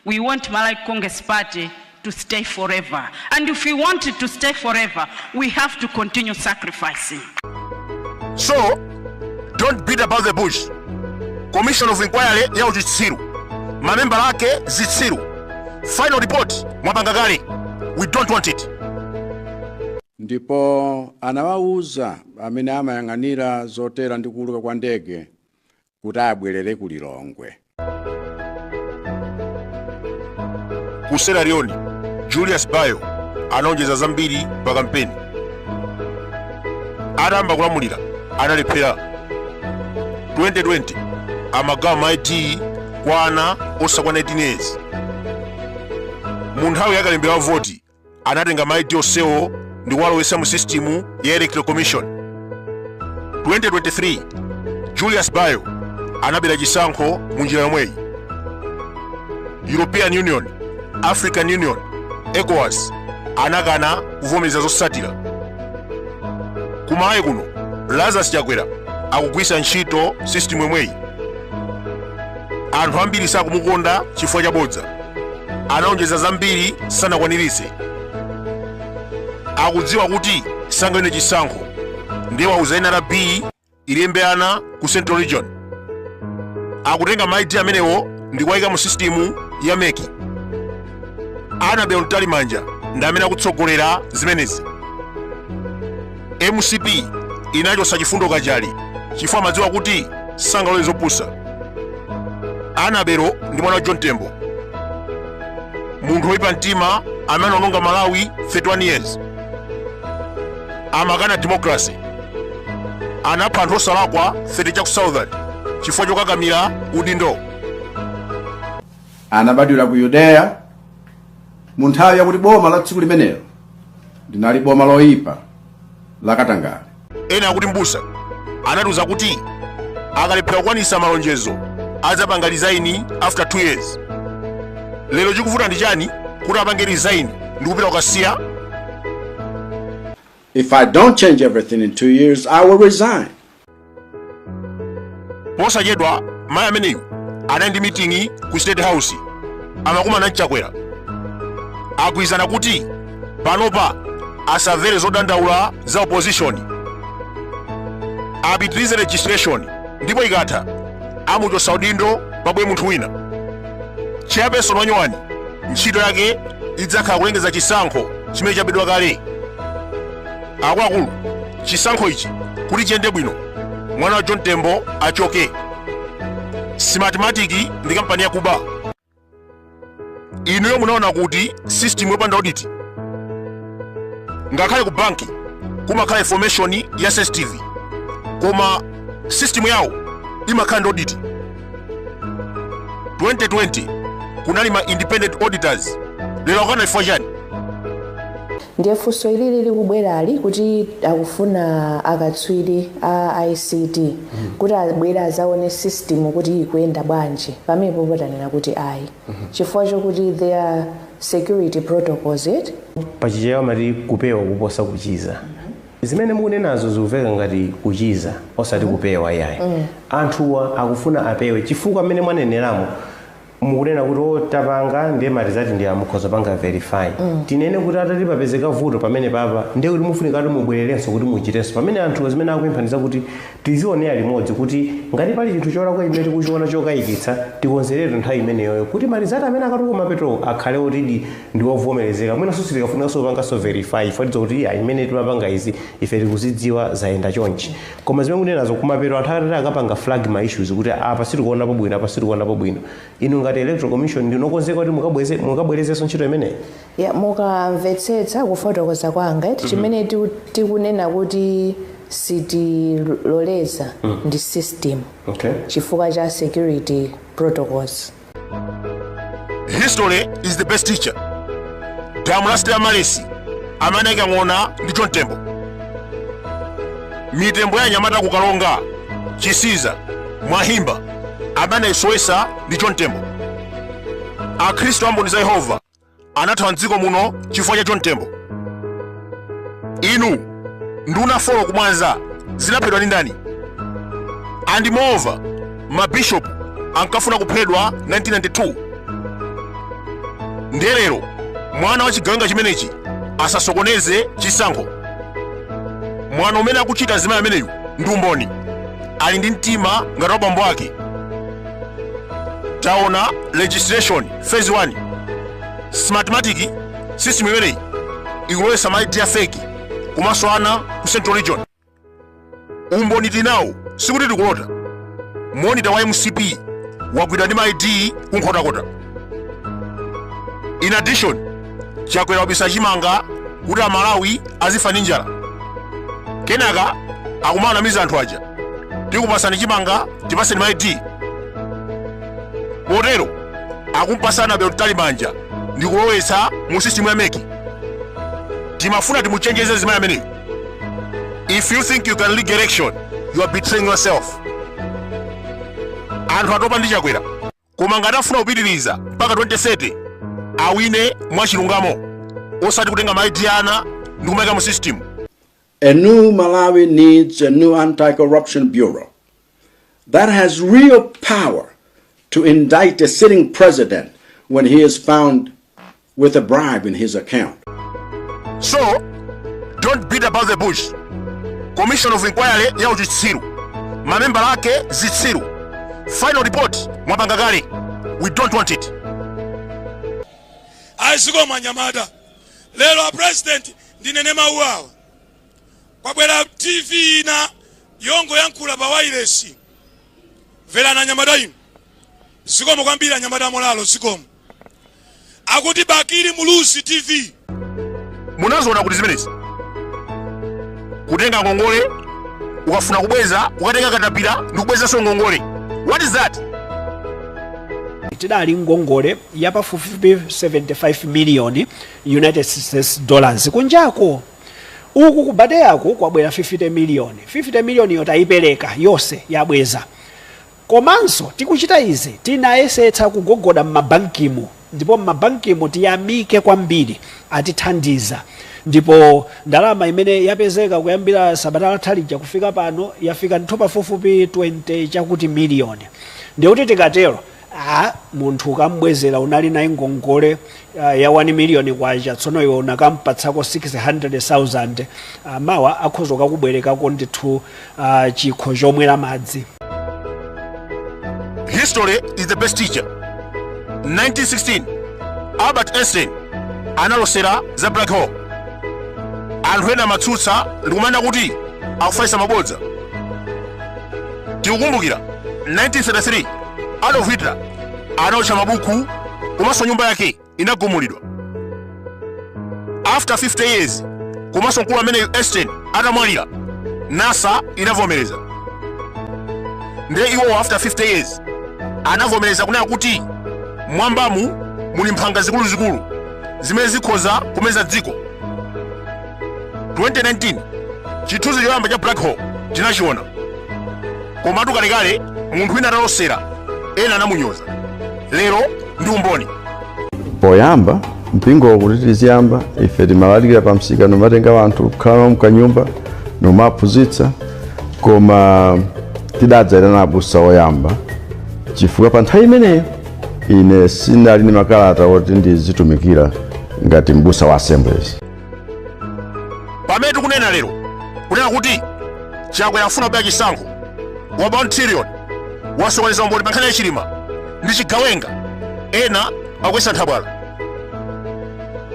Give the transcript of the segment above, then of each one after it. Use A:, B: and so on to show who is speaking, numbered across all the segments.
A: We want Malawi Congress Party to stay forever and if we want it to stay forever we have to continue sacrificing.
B: So don't beat about the bush. Commission of Inquiry ya uchitsiru, mamembala ake zitsiru, final report mwapanga kale, we don't want it. Ndipo
C: anawawuza amene amayang'anira zotera ndi kuuluka kwa ndege kuti abwerere ku
B: Lilongwe. Ku Sierra Leone, Julius Bio analonjeza zambiri pa kampeni. Atayamba kulamulira analephera 2020 amagawa ma ID kwa ana osakwana 18 years. Mu nthawi ya kalembera wa voti anatenga ma ID onsewo ndi kuwalowetsa mu sisitimu ya electoral commission 2023 julius bio anabera chisankho mu njira yomweyi european union african union ecowas anakana kuvomereza zotsatira kumalawi kuno lazarus chakwera akugwiritsa ntchito sisitimu yomweyi anthu ambiri sakumukonda chifukwa cha bodza analonjeza zambiri sanakwaniritse akudziwa kuti sangawine chisankho ndiye wauza nrb ilembe ana ku central region akutenga ma id amenewo ndi kuwayika mu sisitimu ya mec anabel mtalimanja ndi amene akutsogolera zimenezi mcp inachotsa chifundo kachali chifukwa amadziwa kuti sangalole zopusa anabel ndi mwana wa john tembo munthu woyipa mtima amene anaononga malawi 31 years amakana democracy anapha anthu osalakwa 30 chaku southern chifukwa chokakamira udindo
C: anabadwira ku yudeya mu nthawi yakuti boma la tsiku limenelo linali boma loyipa la katangale ena akuti mbusa
B: anatiuza kuti akalephera kukwanisa malonjezo adzapanga resign after 2 years lero chikuvuta ndi chani kuti apange resign ndi kupita kukasiya
C: if i don't change everything in two years i will resign
B: posachedwa mayi ameneyu anali ndi miting'i ku state house amakumana ndi chakwera agwirizana kuti panopa asamvere zodandaula za opposition apitirize registration ndipo ikatha amuchotsa udindo pabwere munthu wina chairperson wanyowani ntchito yake idzakhala kulengeza chisankho chimene chabedwa kale akuluakulu chisankho ichi kuti chiyende bwino mwana wa john tembo achoke smartmatic ndi kampani yakuba inuyo munaona kuti system yopanda audit ngakhale ku banki kumakhala information ya sensitive koma system yawo imakhala ndi audit 2020 kunali ma independent auditors lero akukana chifukwa
D: chani ndiye funso ilili likubwerali kuti akufuna akatswiri a ict kuti abwere azaone system kuti ikuyenda bwanji pamene potanena kuti ayi chifukwa chokuti there are security protocols eti pachichewa amati
E: kupewa kuposa kuchiza Zimene mukunenazo zikuveka ngati kuchiza osati kupewa iyayi. Anthuwa akufuna apewe chifukwa mmene mwaneneramo mukunena kuti o tapanga ndiye marizati ndi awa mukhoza panga verify. Tinene kuti atati papezeka vuto pamenepapa ndiye kuti mufunika kuti mubwererenso kuti muchitenso. Pamene anthuwa zimene akupempha ndi zakuti Tizionera limodzi kuti ngati pali chinthu cholakwa chimene tikuchiona chokayikitsa, tikonzeretu nthawi imeneyoyo kuti marizati amene akatuluka kumapetowo akhale otidi ndi ovomerezeka mwinanso sitikafunikanso kupanganso verify chifukwa tidziwa kuti iyayi mmene timapanga izi ife tikuzidziwa zayenda chonchi. Koma zimene mukunenazo kumapeto anthu atati akapanga flag ma issues kuti apa sitikuonapo bwino apa sitikuonapo bwino, inu ngati Electoral Commission ndinu okonzeka kuti mukabweze mukabwerezenso ntchito imeneyi?
D: ya mukamvetsetsa kufotokoza kwanga eti chimene tiku- tikunena kuti sitiloleza ndi system okay chifukwa
E: cha
D: security protocols
B: history is the best teacher Dam la Sister Mary amanaika ng'ona ndi John Tembo mitembo ya anyamata kukaronga chisiza mwahimba amanaisowetsa ndi John Tembo akhristu a mboni za yehova anathawa mdziko muno chifukwa cha john tembo inu nduna folo kumwanza zinaphedwa ndi ndani and moreover mabishopu ankafuna kuphedwa 1992 ndiye lero mwana wa chigawenga chimenechi asasokoneze chisankho mwanayu mmene akuchita zimayi ameneyu ndi umboni ali ndi mtima ngati wa bambo ake taona registration phase 1 smartmatic system imeneyi ikulowetsa ma id fake komanso ana ku central region umboni tinawo sikuti tikulota monita wa mcp wagwidwa ndi ma id kunkhotakota in addition chakwera wabisa chimanga kuti amalawi azifa ndi njala kenaka akumanamiza anthu aja tikupasani chimanga tipaseni ma id potero akumpasana Annabel Mtalimanja ndi kulowetsa mu sisitimu ya meki timafuna timuchenjeze zimayi ameneyo if you think you can rig election you are betraying yourself anthu atopa ndi chakwera koma ngati afuna kupitiriza mpaka 2030 awine mwachilungamo osati kutenga maidi ana ndi kumayika mu system A new
C: Malawi needs a new anti corruption bureau that has real power to indict a sitting president when he is found with a bribe in his account.
B: so don't beat about the bush commission of inquiry ya uchitsiru mamembala ake zitsiru final report mwapanga kale we don't want it
F: zikomo anyamata lero a president ndinene mawu awa kwabwera tv ina yongoyankhula pa wailesi mverani anyamata inu zikomo kwambiri anyamata amolalo zikomo akuti Bakili Muluzi TV. Munaziona
B: kuti zimenezi? Kutenga ngongole ukafuna kubweza ukatenga katapira ndi kubwezanso ngongole. What is that? tidali
G: ngongole ya pafupifupi 75 million united states dollars kunjako uku kubade yako kwabwera 50 million 50 million yo tayipereka yonse yabweza Komanso tikuchita izi tinayesetsa kugogoda m'mabankimu ndipo m'mabankimu tiyamike kwambiri atithandiza ndipo ndalama imene yapezeka kuyambira sabata latha lija kufika pano yafika ndithu pafupifupi 20 chakuti miliyoni ndikuti tikatero ah munthu ukam'bwezera unali naye ngongole uh, ya 1 miliyoni kwacha tsono iwe unakampatsako 600000 uh, mawa akhoza kukakubwerekako ndithu uh, chikho chomwera madzi
B: History is the best teacher. 1916, Albert Einstein analosera za black hole. Anthu ena amatsutsa ndikumanena kuti akufalitsa mabodza. Tikukumbukira 1933, Adolf Hitler anaotcha mabuku komanso nyumba yake inagumulidwa after 50 years komanso mkulu ameneyu Einstein atamwalira nasa inavomereza ndiye iwowo after 50 years anavomereza kunena kuti mwambamu muli mphanga zikuluzikulu zimene zikhoza kumeza dziko 2019 chithunzi choyamba cha black hole tinachiona komatu kalekale munthu wina atalosera ena anamunyoza lero ndi umboni poyamba
C: mpingo uwu tili kuyamba ife timalalikira pa msika nomatenga wanthu kukhala nawo mkanyumba nomaphunzitsa koma tidadzayitana abusa oyamba chifukwa pa nthawi imeneyo ine sinali ndi makalata oti ndizitumikira ngati mbusa wa assemblies
B: pamene tikunena lero kunena kuti chakwera afuna kubera chisankho waba 1 trillion wasokoneza umboni pa nkhani ya chilima ndi chigawenga ena akuyesa nthabwala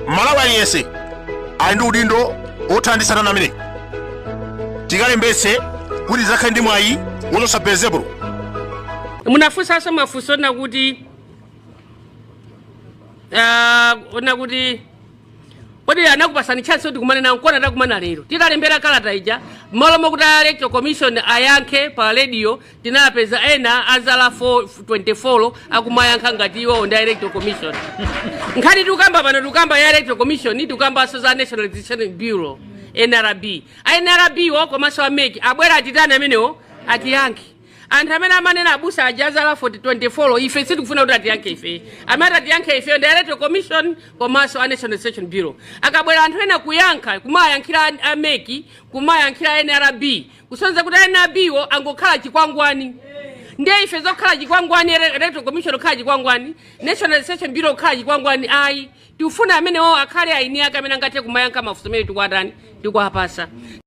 B: mmalawi aliyense ali ndi udindo wothana ndi satana ameneyi tikalembetse kuti tizakhale ndi mwayi wochotsa belezebulo
H: munafunsanso mafunso na kuti ah, ona kuti kodi anakupasani chance kuti tikumane nawo nkona takumana lero titalembera kalata ija mmalo mokuti a electoral commission ayankhe pa radio tinapeza ena azala 24 akumayankha ngati iwowo ndi a electoral commission nkhani tikukamba pano tikukamba ya electoral commission tikukambanso za national registration bureau nrb a nrb wo komanso a mec abwere atitani amenewo atiyankhe anthu amene amanena abusa aja azala 24 ife sitikufuna kuti atiyankhe ife amene atiyankhe ife ndi electoral commission komanso a national registration bureau akabwera anthu ena kuyankha kumayankhira a- a mec kumayankhira nrb kusonyeza kuti nrb wo angokhala chikwangwani ndiye ife zokhala chikwangwani ele- electoral commission kukhala chikwangwani national registration bureau kukhala chikwangwani ayi tikufuna amenewo akhale eni ake amene angathe kumayankha mafunso amene tikuwatani tikuwapasa